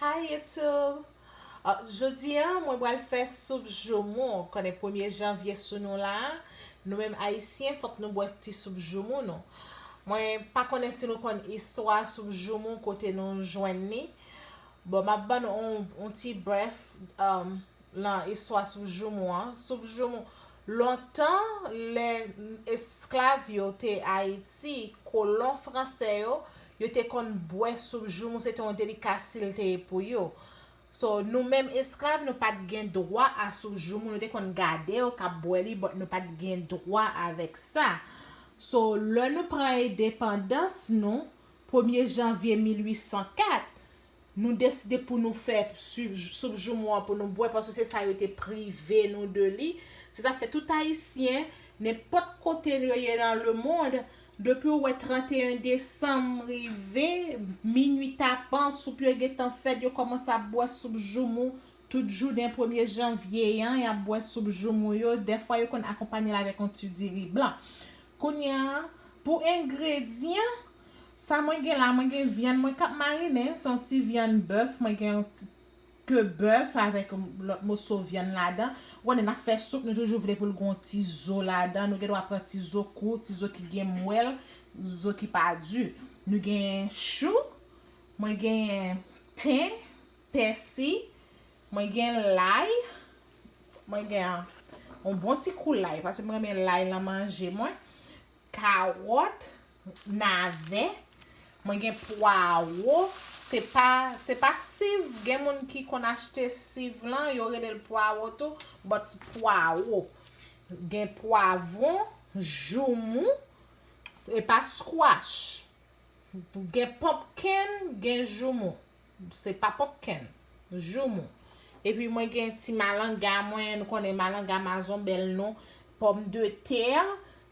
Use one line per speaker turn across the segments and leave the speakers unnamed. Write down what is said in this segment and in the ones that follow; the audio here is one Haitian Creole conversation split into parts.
Hi YouTube! Jodi an mwen pral fè soup joumou, konnen premye janvye sou nou la, nou menm ayisyen fòk nou bwè ti soup joumou nou. Mwen pa konnen si nou konn istwa soup joumou kote nou jwenn li, bon map bann ou yon ti brèf Lan istwa soup joumou an, soup joumou, lontan lè esklav yo te Ayiti, kolon franse yo, yo te konn bwè soup joumou, se te yon delikasil te ye pou yo. So, nou menm esklav nou pa t gen dwa a soup joumou, nou te konn gade yo k ap bwè li but nou pa t gen dwa avèk sa. So, lè nou pran edepandans nou, premye janvye 1804, Nou deside pou nou fè swiv soup joumou an pou nou bwè paske se sa yo te prive nou de li. Se sa k fè tout Ayisyen, nenpòt kote yo ye nan lemond, depi ou wè 31 desanm rive, minui tapan, soup yo gentan fèt, yo kòmanse ap bwè soup joumou tout jounen premye janvye an, y ap bwè soup joumou yo, dèfwa yo konn akonpanye l avèk yon ti diri blan. Kounye a, pou engredyan, Sa mwen gen la mwen gen vyann mwen kap marinen son ti vyann bèf mwen gen yon ke bèf avèk lòt moso vyann ladan ou konnen nap fè soup nou toujou vle poul gon ti zo ladan nou gen dwa pran ti zo kou ti zo ki gen mwèl zo ki pa di nou gen chou mwen gen ten pèsi mwen gen lay mwen gen yon bon ti kou lay paske mwen renmen lay nan manje mwen. Kawòt, navè, mwen gen pwawo, se pa se pa siv, gen moun ki konn achte siv lan, yo rele l pwawo tou, but pwawo. Gen pwavon, joumou, e pa squash. Gen pumpkin, gen joumou. Se pa popken. Joumou. Epi mwen gen ti malanga mwen, nou konnen malanga mazon bèl non, pòm de tè,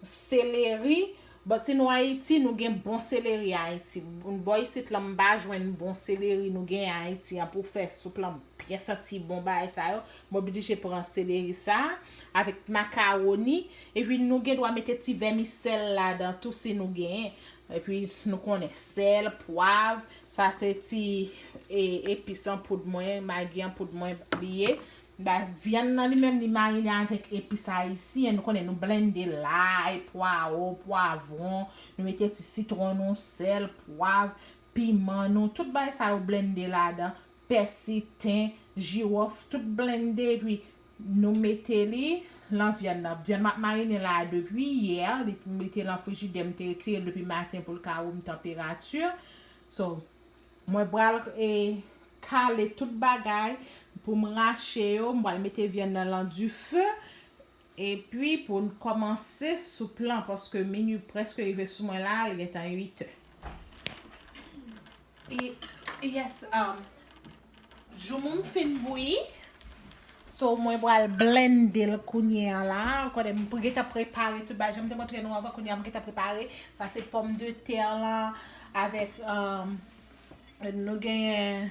seleri, but si nou Ayiti nou gen bon seleri Ayiti. Bò isit lan m pa jwenn bon seleri nou gen Ayiti an pou fè soup lan byen santi bon bagay sa yo. Mwen oblije pran seleri sa a avèk makaroni. Epi nou gen dwa mete ti vèmisèl ladan tou si nou genyen. Epi nou konnen sèl, pwav, Sa se ti epis an poud mwen, magi an poud mwen li ye. Vyann nan li menm li marine avèk epis ayisyen. Nou konnen nou blende lay, pwawo, pwavron. Nou mete ti sitron nou, sèl, pwav, piman nou. Tout bagay sa yo blende ladan. pèsi, ten, jiwòf tout blende epi Nou mete li Lan vyann nan, vyann map marine la depi yè li te lan frijidè m te retirel depi maten poul ka room tanperati so Mwen pral kale tout bagay poum rache yo m pral mete vyann nan lan dife Epi pou n kòmanse soup lan paske minui prèske rive sou mwen la, li gentan 8 è. Yes um joumou m fin bouyi so mwen pral blende l kounye an la, ou konnen m gentan prepare tout bagay, jan m te montre nou anvan kounye an m gentan prepare, sa se pòm de tè lan avèk um nou genyen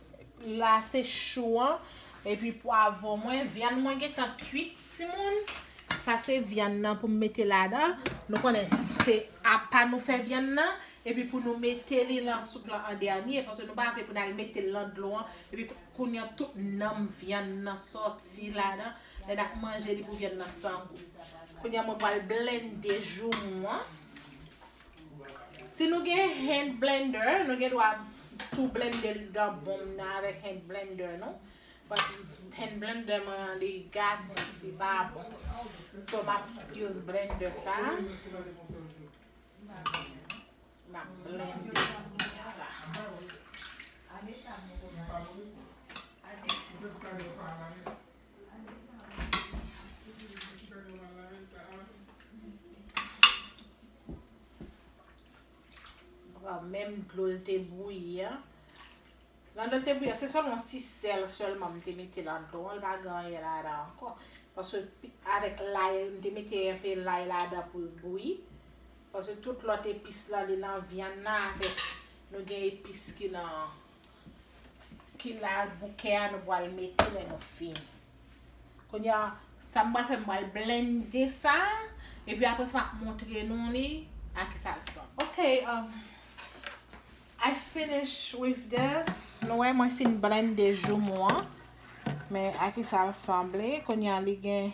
la se chou an epi pwavon mwen vyann mwen gentan kuit timoun sa se vyann nan pou m mete ladan nou konnen se apa nou fè vyann nan epi pou nou mete li lan soup lan an dènye paske nou pa vle pou nal mete l lan dlo an epi kounye an tout nanm vyann nan sòti ladan lè nap manje li pou vyann nan san gou kounye an mwen pral blende joumou an Si nou gen hand blender, nou gen dwa tou blende l dan bon m nan avèk hand blender nou. But hand blender mwen an li gate, li pa bon. So m ap use blender sa. M ap blende. Pran menm dlo l te bouyi a. Nan dlo l te bouyi a, se sèlman yon ti sèl sèlman m te mete nan dlo an, pa gen anyen ladan ankò. Paske avèk lay, m te mete enpe lay ladan pou l bouyi. Paske tout lòt epis la, li nan vyann nan avèk nou gen epis ki nan. Ki la bouke a nou pral mete lè nou fini. Kounye a, sa m pral fè, m pral blende sa, epi apre sa m ap montre nou li a ki sa l sanble. Ok, I finish with this. Nou wè mwen fin blende joumou an. Men a ki sa l sanble. Kounye a li gen,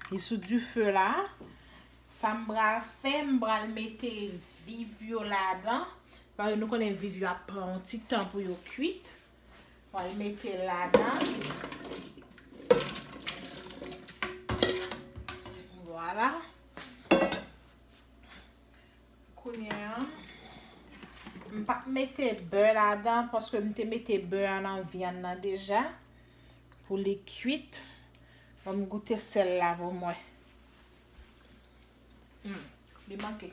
li sou dife la. Sa m pral fè, m pral mete viv yo ladan. Paske nou konnen viv yo ap pran yon ti tan pou yo kuit. M pral mete l ladan. Vwala. Kounye an. M pa p mete bè ladan paske m te mete bè an nan vyann nan deja. Pou li kuit. An m goute sèl la pou mwen. Humm li manke.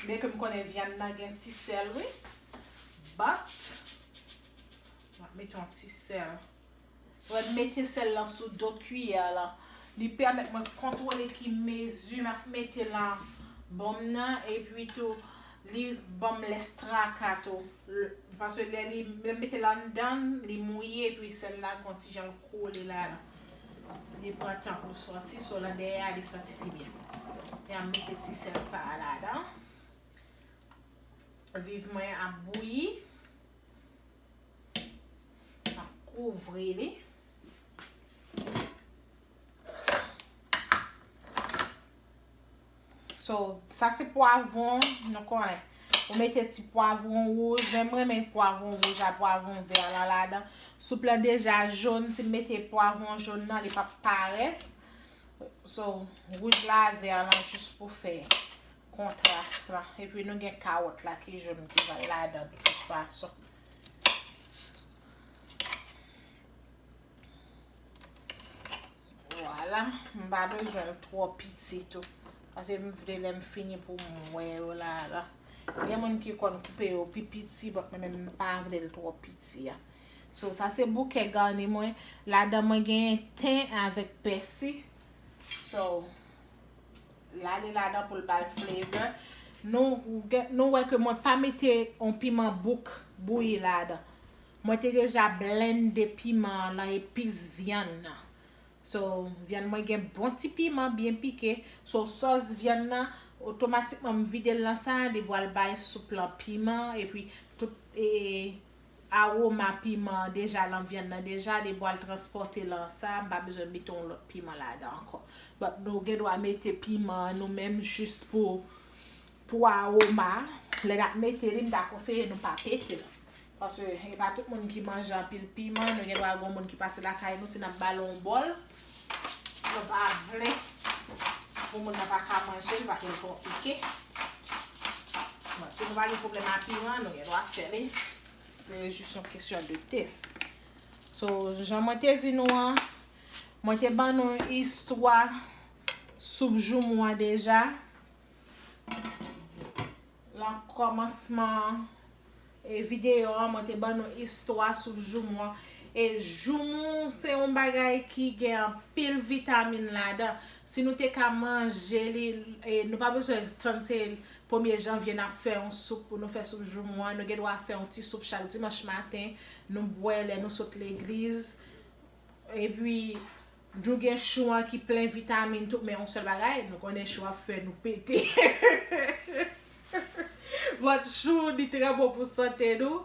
Byen ke m konnen vyann nan gen ti sèl wi but map mete yon ti sèl. Lè m mete sèl lan sou do kiyè lan li pèmèt mwen kontwole ki mezi map mete lan bon m nan epi tou li banm lès traka tou paske lè li lè m mete l anndan li mouye epi sèl la gon ti jan l kole ladan. Li pran tan poul soti so nan dèyè a li soti pi byen. Yam mete ti sèl sa a ladan. Viv mwen ap bouyi. Map kouvri li. So, sa se pwavon, nou konnen. Ou mete ti pwavon wouj, men mwen men pwavon wouj a, pwavon vè a la ladan. Soup la deja joun, si m mete pwavon joun nan, li pap parèt. So, wouj la a vè a lan jous pou fè kontras la. E pi nou gen kawòt la ki joun ki va la ladan de tout fason. Vwala, m pa bezwen l twò piti tou. Pase m vle lè m fini pou m wè yo la la. Gen moun ki konn koupe yo pi piti bòt mwen men m pa vle l twò piti a. So sa se bouke gani mwen. Ladan mwen genyen ten avèk pèsi. So, l ale ladan pou l ba l flavor. Nou wè ke mwen pa mete yon piman bouk bouyi ladan. Mwen te deja blende piman an nan epis vyann nan. So vyann mwen gen bon ti piman byen pike. So sòs vyann nan otomatikman m vide l nan sa li pral bay soup lan piman epi tout e aroma piman an deja lan vyann nan deja li pral transpòte lan sa m pa bezwen mete yon lòt piman ladan ankò. But nou gen dwa mete piman an nou menm jis pou pou aroma. Lè nap mete li m ta konseye nou pa pete l. Paske e pa tout moun ki manje anpil piman, nou gen dwa gon moun ki pase lakay nou si nap bal on bòl, nou pa vle pou moun nan pa ka manjel paske li twò pike. Bon, si nou pa gen pwoblèm a piman, nou gen dwa fè li, se jis yon kesyon de test. So, jan mwen te di nou an, mwen te ban nou istwa soup joumou an deja. Lan kòmansman video an mwen te ban nou istwa sou joumou an e joumou se yon bagay ki gen anpil vitamin ladan si nou te ka manje li e nou pa bezwen tann se premye janvye nap fè yon soup pou nou fè soup joumou an nou gen dwa fè yon ti soup chak dimanch maten nou bwè lè nou sot legliz epi Djou gen chou an ki plen vitamin tout men yon sèl bagay nou konnen chou ap fè nou pete but chou li trè bon pou sante nou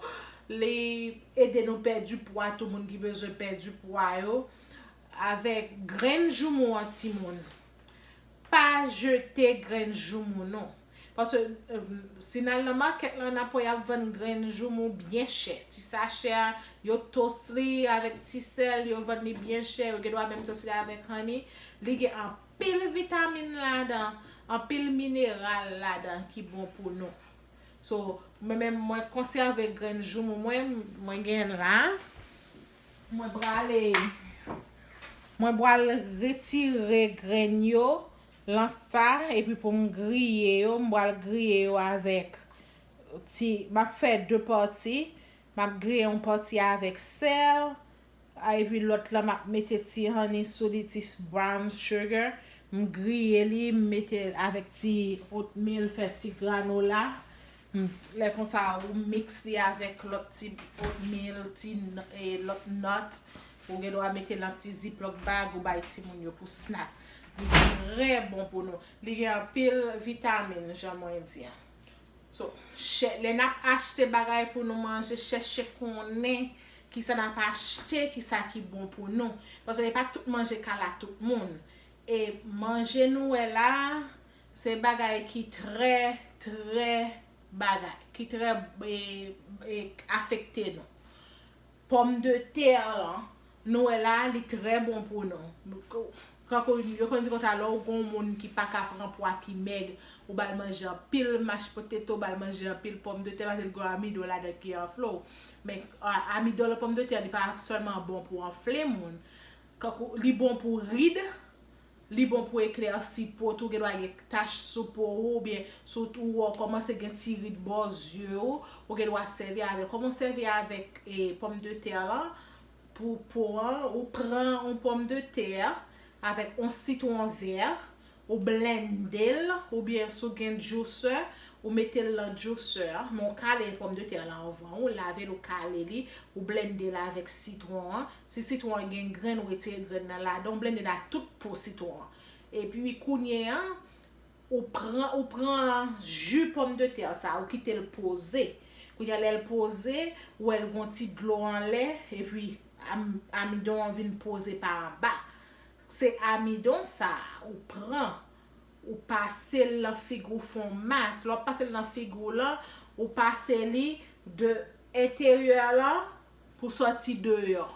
li ede nou pèdi pwa tou moun ki bezwen pèdi pwa yo avèk grenn joumou an timoun pa jete grenn joumou non. Paske si n al nan makèt la na p wè y ap vann grenn joumou byen chè. Ti sachè a, yo toast li avèk ti sèl, yo vann li byen chè, yo gendwa menm toast li avèk honey. Li gen anpil vitamin ladan, anpil mineral ladan ki bon pou nou. So, mwen menm mwen konsève grenn joumou mwen, mwen gen la. Mwen prale, mwen pral retire grenn yo lan sa epi pou m griye yo m pral griye yo avèk ti map fè 2 pati map griye yon pati avèk sèl epi lòt lan map mete ti honey sou li ti brown sugar m griye li m mete avèk ti oatmeal fè ti granola Humm lè konsa ou mix li avèk lòt ti oatmeal ti lòt nut ou gen dwa mete nan ti ziplock bag ou bay timoun yo pou snack li trè bon pou nou li gen anpil vitamin jan mwen di an so chè lè nap achte bagay pou nou manje chèche konnen kisa nap achte kisa ki bon pou nou paske epa tout manje kala tout moun e manje nou wè la Se bagay ki trè, trè bagay, ki trè e afekte nou. Pòm de tè lan, nou wè la, li trè bon pou nou. Tankou yo konn di konsa lè ou gon moun ki pa ka pran pwa ki mèg, ou ba l manje anpil mash poteto, ba l manje anpil pòm de tè paske li gon amidon ladan ki anfle w. Men amidon lan pòm de tè li pa sèlman bon pou anfle moun. Kankou li bon pou ride, Li bon pou eklèsi po, tou gen dwa gen tach sou po ou oubyen sou ou wè ou kòmanse gen ti rid bò zye ou, ou gen dwa sèvi avèl. Kòman ou sèvi avèk e pòm de tè lan pou po an, ou pran on pòm de tè avèk on sitwon vè, ou blenndel oubyen si ou gen jousè, ou metel lan jousè an, men ou kale pòm de tè lan anvan, ou lavel ou kale li, ou blennde l avèk sitwon an, Si sitwon an gen grenn ou retire grenn nan ladan ou blendel ak tout po sitwon an. Epi kounye a ou pran ou pran ju pòm de tè sa ou kitel poze. Kounye a lèl poze ou wèl gon ti dlo anlè epi amidon an vin poze pa anba. Se amidon sa ou pran ou pasel nan figi ou fon mas. Lè wap pasel nan figi w lan ou pase li de enteryè lan Pou sòti deyò.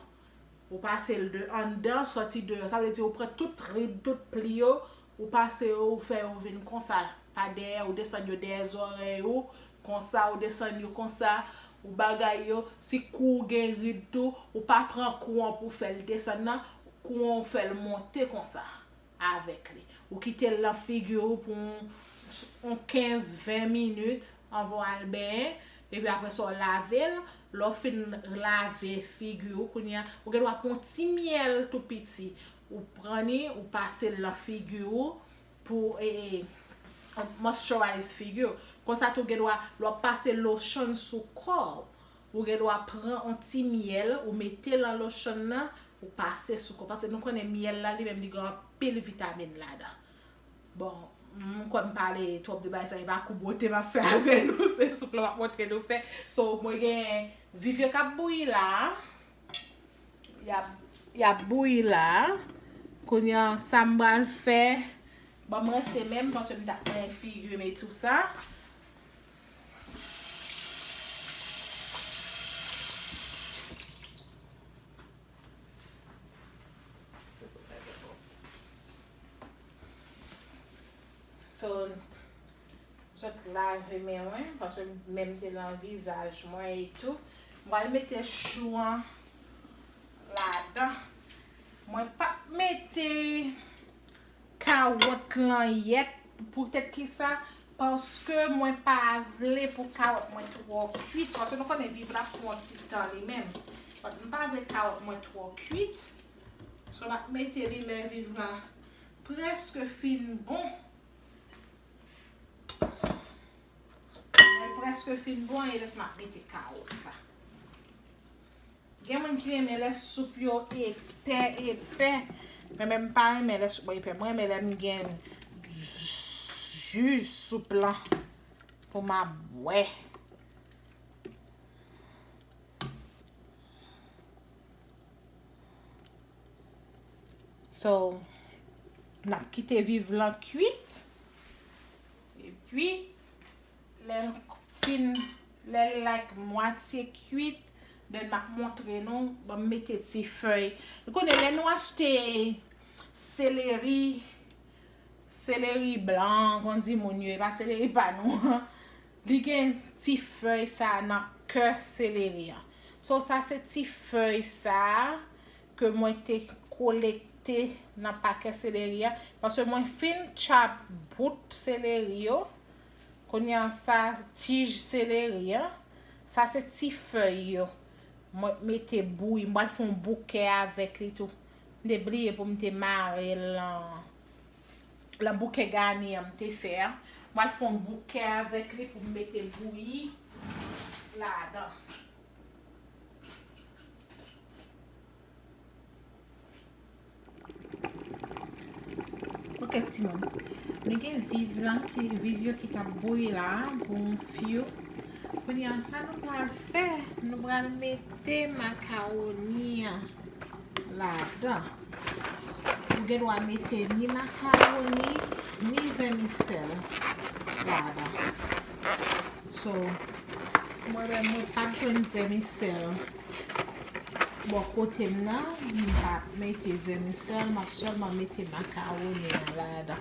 Ou pase l de anndan sòti deyò. Sa vle di ou pran tout rid, tout pli yo, ou pase yo, ou fè yo vin konsa pa dèyè, ou desann yo dèyè zòrèy ou, konsa, ou desann yo konsa, ou bagay yo. Si kou ou gen rid tou, ou pa pran kou an pou w fè l desann nan, kou an ou fè l monte konsa. avèk li. Ou kite l nan figi ou pou yon 15, 20 minit anvan w al benyen, epi apre sa w lave l. Lè w fin lave figi ou kounye a, ou gen dwa pran yon ti myèl tou piti, ou pran li, ou pase l nan figi ou pou moisturize figi ou. Konsa tou ou gen dwa, lè w ap pase lotion sou kò ou, Ou gen dwa pran on ti myèl ou mete lan lochonn nan ou pase sou kò paske nou konnen myèl la li menm li gen anpil vitamin ladan. Bon, m kwè m pale twòp de bagay sa e pa kou bwote m ap fè avè nou se soup lan m ap montre nou fè. So mwen gen viv yo k ap bouyi la a. Y ap y ap bouyi la a. Kounye an sa m pral fè, bon m rense men m paske m ta plen figi m e tou sa. So, jòt lave men mwen, paske menm te lan vizaj mwen e tou. M pral mete chou an ladan. Mwen pap mete. Kawòt lan yèt pou tèt kisa paske mwen pa vle pou kawòt mwen twò kuit paske nou konnen viv la pwan ti tan li menm donk m pa vle kawòt mwen twò kuit so map mete li lè viv la prèske fin bon lèl prèske fin bon e lès map mete kawòt la. Gen moun ki renmen lè soup yo epè epè men men m pa renmen lè soup mwen epè mwen renmen lè m gen ju soup lan pou m ap bwè. So n ap kite viv lan kuit epi Lèl fin lèl like mwatye kuit then map montre nou banm mete ti fèy nou konnen lè nou achte seleri seleri blan kon di moun yo epa seleri pa nou an li gen ti fèy sa nan kè seleri an so sa se ti fèy sa ke mwen te kolekte nan pakè seleri an paske mwen fin chap bout seleri yo Kounye a sa tij seleri an, sa se ti fèy yo. Mwen t mete bouyi, m pral fè yon bouke avèk li tou. M te bliye pou m te mare l lan bouke gani an m te fè a. M pral fè yon bouke avèk li pou m mete bouyi ladan. Ok timoun, nou gen viv lan, viv yo ki tap bouyi la, gonfyo. Kounye an sa nou pral fè, nou pral mete makaroni an la dan. Ou gen dwa mete ni makaroni, ni vèmisèl la dan. So, mwen mwen mwen pa jwenn vèmisèl. Bò kote m nan, m pa mete vèmisèl, m ap sèlman mete makawoni an ladan.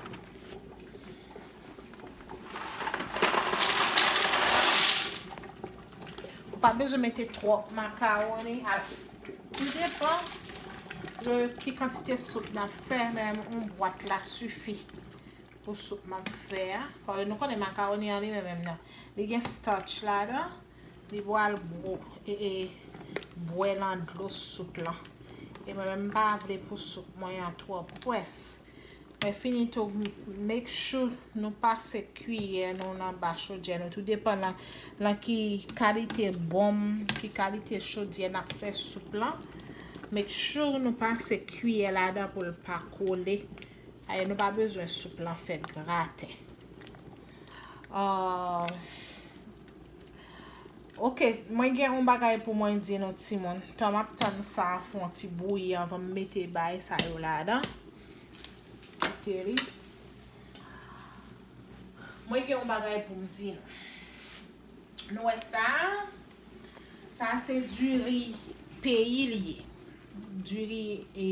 Ou pa bezwen mete twòp makawoni. Tou depan de ki kantite soup n ap fè, men yon bwat la sifi pou soup m ap fè a. Paske nou konnen makawoni an li menm menm nan, li gen starch ladan. Li pral bro e e bwè lan dlo soup lan. E mwen menm m pa vle pou soup mwen an twò pwès. Mwen fini tou make sure nou pase kiyè nou lan ba chodyè nou tou depan lan lan ki kalite bonm, ki kalite chodyè n ap fè soup lan. Make sure nou pase kiyè ladan pou l pa kole. Paske nou pa bezwen soup lan fè graten. Ahh. Ok mwen gen yon bagay pou mwen di nou timoun. Tan map tann sa a fon ti bouyi avan m mete bay sa yo ladan. Kite li. Mwen gen yon bagay pou m di nou. Nou wè sa a? Sa a se diri peyi li ye. Diri e.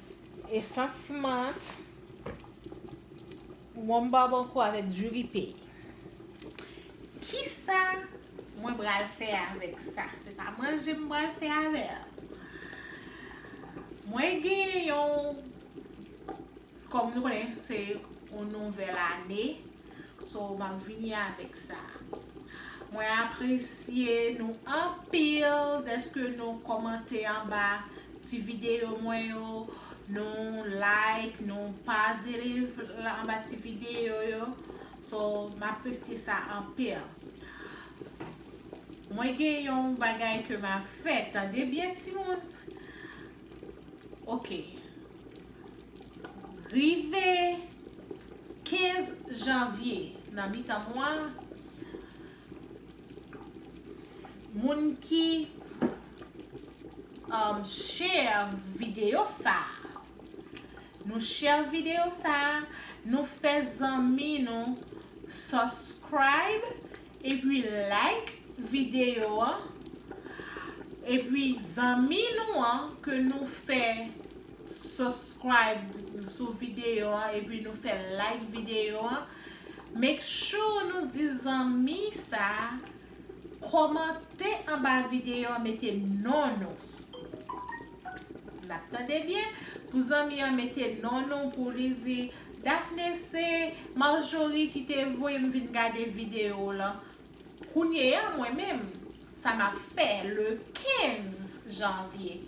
Esans mant, wonm babankou avèk diri pey. Kisa mwen pral fè avèk sa? Se pa manje m pral fè avè l. Mwen gen yon, kòm nou konnen se yon nouvèl ane. So map vini avèk sa. Mwen apresye nou anpil deske nou komante anba ti video mwen yo, nou like, nou pazerev anba ti video yo. So map presye sa anpil. Mwen gen yon bagay ke ma fè, tande byen timoun. Ok. Rive 15 janvye, nan mitan mwa, moun ki share videyo sa a, nou share videyo sa a, nou fè zanmi nou subscribe. Epi like video an epi zanmi nou an ke nou fè subscribe sou video an epi nou fè like video an make sure nou di zanmi sa komante anba video an mete non nou nap tande byen pou zanmi an mete non nou pou li di Daphné se Marjorie ki te voye m vin gade video w lan kounyeya mwen menm sa map fè le 15 janvier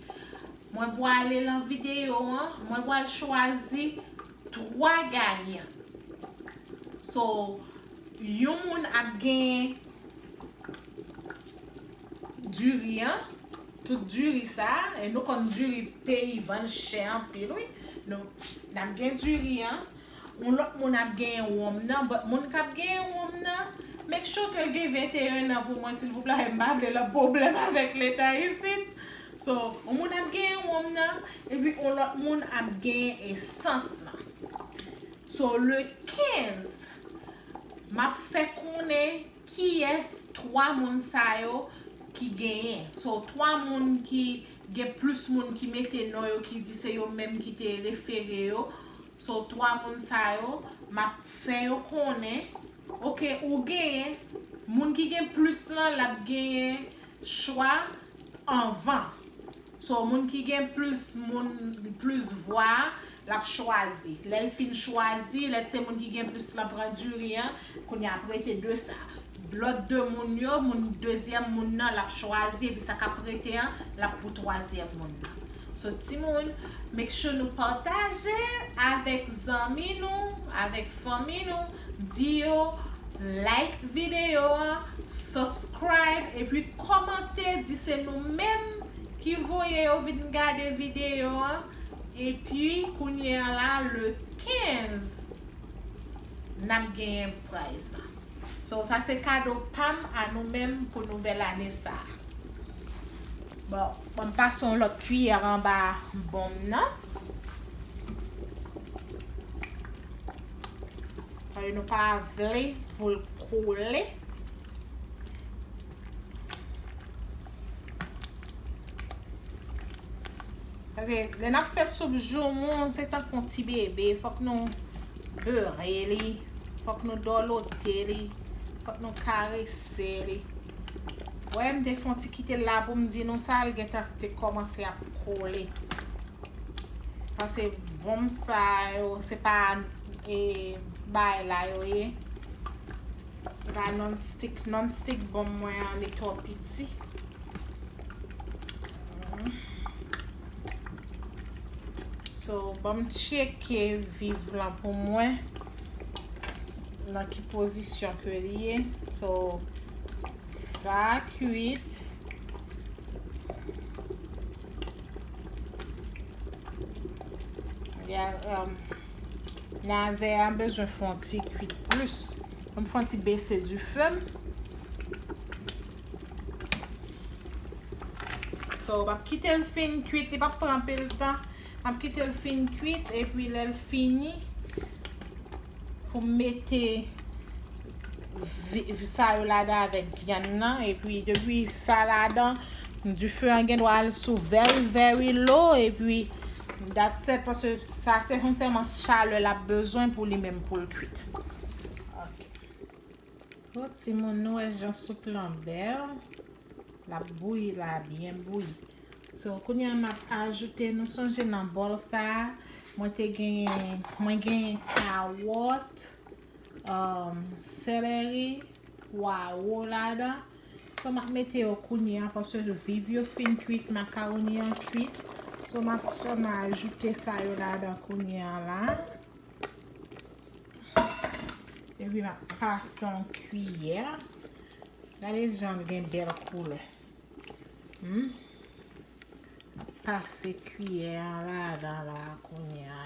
mwen pwale lan video an mwen pwal chwazi 3 ganyan so yon moun ap gen diri an. Tout diri sa e nou konn diri peyi vann chè anpil wi nou nap gen diri an yon lòt moun ap genyen wonm nan but moun kap genyen wonm nan make sure kel gen 21 nan pou mwen silvouplè m pa vle lòt pwoblèm avèk leta isit so yon moun ap genyen wonm nan epi yon lòt moun ap genyen esans lan so le 15 map fè konnen Kiyes 3 moun sa yo ki genyen. So 3 moun ki gen plus moun ki mete non yo ki di se yo menm ki te refere yo. So 3 moun sa yo map fè yo konnen ok ou genyen moun ki gen plus lan lap genyen chwa anvan. So moun ki gen plus moun plus vwa a lap chwazi lèl fin chwazi lè se moun ki gen plus lan pran diri an kounye a ap rete 2 sa lòt 2 moun yo moun dezyèm moun nan lap chwazi epi sa kap rete an lap pou twazyèm moun nan so timoun make sure nou pataje avèk zanmi nou avèk fanmi nou Di yo like video a, subscribe epi kòmante di se nou menm ki voye yo vin gade video a epi kounye a la le 15 nap genyen prize la. So sa se kado pam a nou menm pou nouvèl ane sa. Bon banm pase yon lòt kiyè anba bonm nan. Paske nou pa vle pou l koule. Paske lè n ap fè soup joumou, se tankou yon ti bebe. Fòk nou bere li, fòk nou dòlote li, fòk nou karese li. Wè m te fon ti kite l la pou m di nou sa l gentan te kòmanse ap kole. Pase bonm sa yo se pa e bay la yo ye. Se pa non stik, non stik bonm mwen an li twò piti. So banm tcheke viv lan pou mwen. nan ki pozisyon ke li ye. So, sa a kuit. Ya, um, nave a bezwen fon ti kuit plus. Mwen fon ti bese du fem. So, wap kite l fin kuit. Li pap pran pil tan. Map kitel fin kuit epi lèl fini poum mete sa yo ladan avèk vyann nan epi depi sa ladan dife an gen dwa al sou very very low epi dat sèt paske sa se yon tèlman chalè lap bezwen pou li menm poul kuit. Ohh timoun nou wè jan soup lan bèl lap bouyi la byen bouyi So kounye a map ajoute nou sonje nan bòl sa mwen te genyen mwen genyen kawòt um, seleri, pwawo ladan. So map mete yo kounye a paske viv yo fin kuit makawoni an kuit. So map sèlman ajoute sa yo ladan kounye a la. Epi map pase yon kiyè. Gade jan l gen bèl koulè. M ap pase kiyè a ladan la kounya.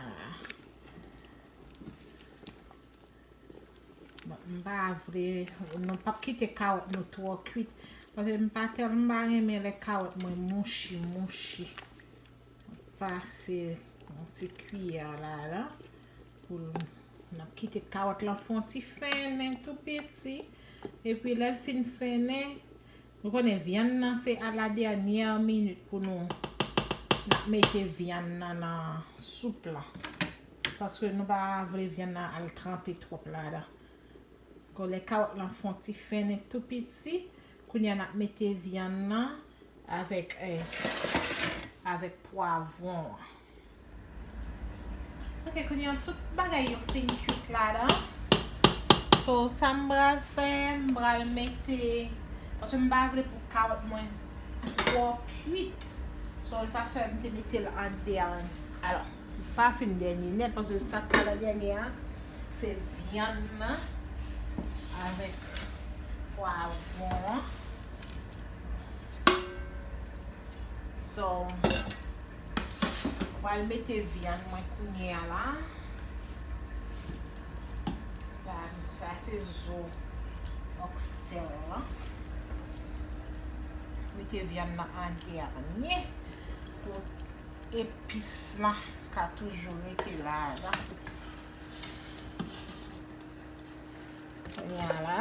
M pa vle, nou pa p kite kawòt nou twò kwit. Pase m pa tèlman, m pa renmen lè kawòt mwen mouchi mouchi. M ap pase yon ti kiyè a ladan. M ap kite kawòt lan fon ti fennen tou piti. E pi lè l fin fennen. Nou konnen vyann nan se a la dènyè minit pou nou nap mete vyann nan nan soup lan. Paske nou pa vle vyann nan al tranpe twòp ladan. Kon lè kawòt lan fon ti fennen tou piti, kounye a nap mete vyann nan avèk avèk pwavwon an. Ok kounye an tout bagay yo fin kuit la dan. So sa m bral fè, m bral mete, paske m pa vle pou kawòt mwen twò kuit. So e sa fè m te mete l an dènye. Alò, li pa fin dènye nèt paske sa k pral an dènye a se vyann nan avèk pwavon an. So. Mwen pral mete vyann mwen kounye a la. Sa a se zo oxtail la. Mete vyann nan an dènye pou epis la ka toujou rete ladan. Kounye a la.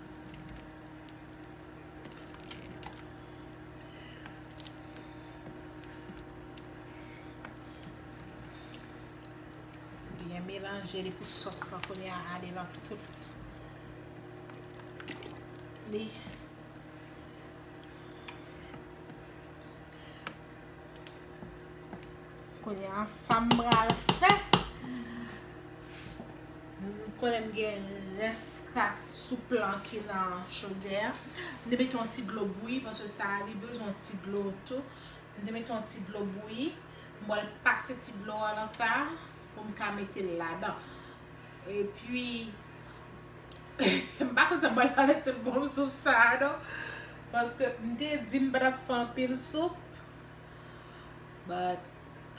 Byen melanje li pou sos la kounye a ale lan tout li. Kounye a sa m pral fè. M konnen m gen rès kras soup lan ki nan chodyè a. M te mete yon ti dlo bouyi paske sa li bezwen yon ti dlo tou. M te mete yon ti dlo bouyi. M pral pase ti dlo a nan sa pou m ka mete l ladan. Epi m pa konn sa m pral fè avèk tout bòl soup sa a non. Paske m te di m pa t ap fè anpil soup. But,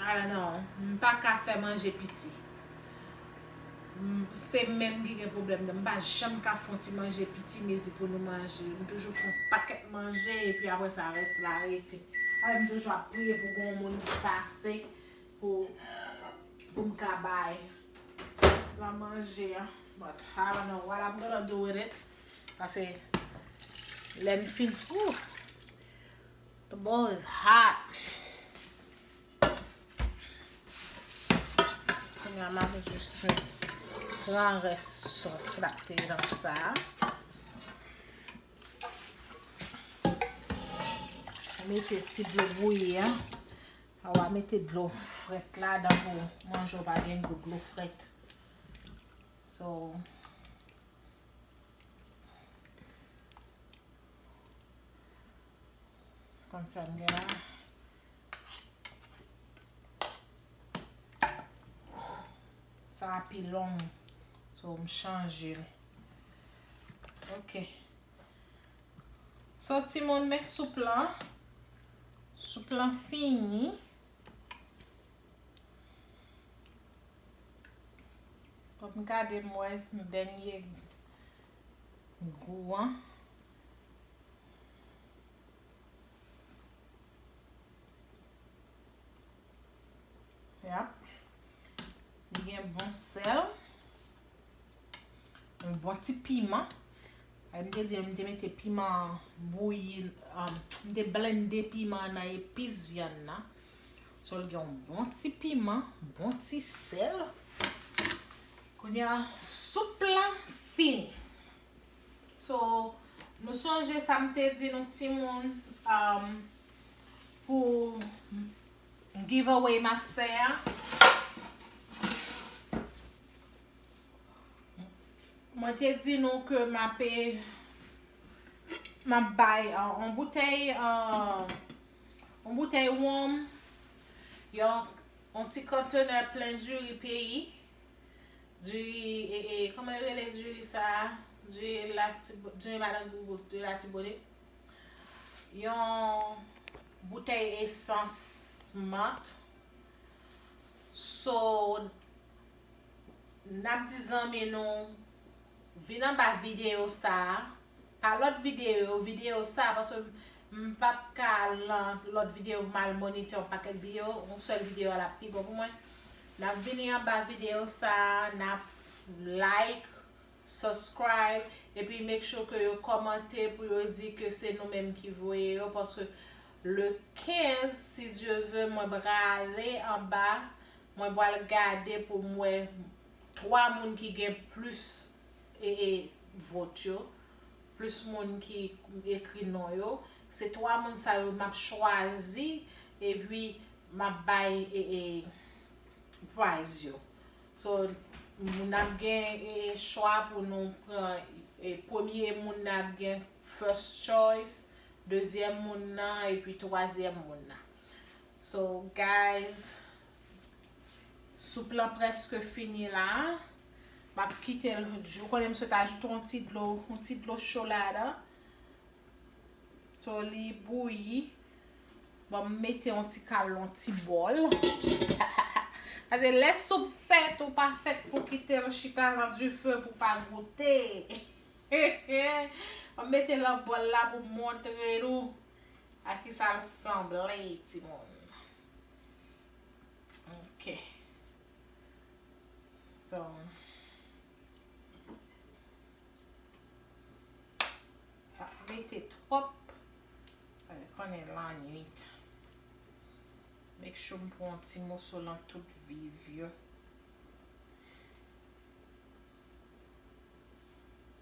I don't know. M pa ka fè manje piti. Se m menm ki gen pwoblèm nan. M pa janm ka fè yon ti manje piti mezi pou nou manje. M toujou fè yon pakèt manje epi apre sa rès la rete. Apre m toujou ap priye pou gen yon moun ki pase. Pou pou m ka bay la manje an but I don't know what I'm gonna do with it pase lè n fin ooh the bowl is hot kounye a m ap jis pran rès sòs la k te nan sa a mete ti dlo bouyi an Aw a mete dlo fret la dan pou manje w pa gen gou dlo fret. So. Kon sa m gen la. Sa a pi long. So m chanje l. Ok. So timoun men soup lan. Soup lan fini. Fok m gade m wè dènye gou an. Yap. Li gen bon sèl. Yon bon ti piman. Ay m te di m te mete piman bouyi, m te blende piman nan epis vyann nan. So l gen yon bon ti piman, bon ti sèl. Kounya soup la fini. So nou sonje sa m te di nou timoun pou giveaway m ap fè a. Mwen te di nou ke m ape m ap bay yon boutèy yon boutèy wonm, yon ti konntenè plen diri peyi, diri ee kòman yo rele diri sa a, diri madan Gougous, diri Latibonit, yon boutèy esans mant, so Nap di zanmi nou vin anba video sa pa lot video video sa paske m pap ka al nan lot video pou m al monite yon pakèt video yon sèl video a lap pi bon pou mwen nap vini anba video sa nap like subscribe epi make sure ke yo komante pou yo di ke se nou menm ki voye yo paske le 15 si Dieu veut mwen prale anba Mwen pwal gade poum wè 3 moun ki gen plus vote yo, plus moun ki ekri non yo, se 3 moun sa yo map chwazi epi map bay prize yo. So nap gen chwa pou nou pran premye moun nan ap gen first choice, dezyèm moun nan epi twazyèm moun nan. So guys soup lan preske fini la map kitel ou konnen m sot ajoute yon ti dlo yon ti dlo cho ladan so li bouyi bon m mete yon ti kal yon ti bol pase lè soup fèt ou pa fèt pou kitel chita nan dife pou pa goute hehe m mete lan bol la pou montre nou. A kisa l sanble timoun? Ok. So. Pa mete twòp. Paske konnen lannuit. Make sure m pran ti moso lan tout viv yo.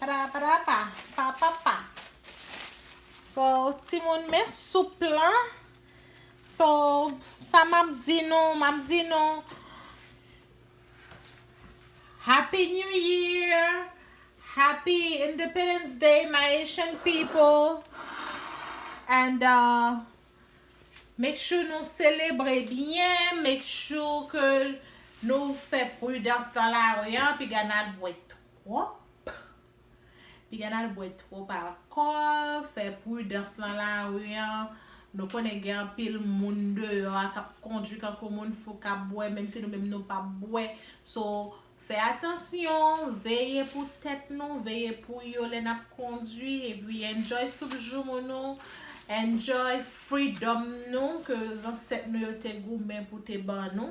Paraparapa papapa So timoun men soup lan So sa map di nou map di nou Happy new year Happy independence day my Haitian people And uh Make sure nou selebre byen Make sure ke nou fè prudans nan lari an Piga nal bwè tou. Trop Piga nal bwè twop alkol fè prudans lan lari an nou konnen gen anpil moun deyò a kap kondwi kankou moun fou kap bwè menm si nou menm nou pap bwè so fè atansyon veye pou tèt nou veye pou yo lè nap kondwi epi enjoy soup joumou nou enjoy freedom nou ke zansèt nou yo te goumen pou te ban nou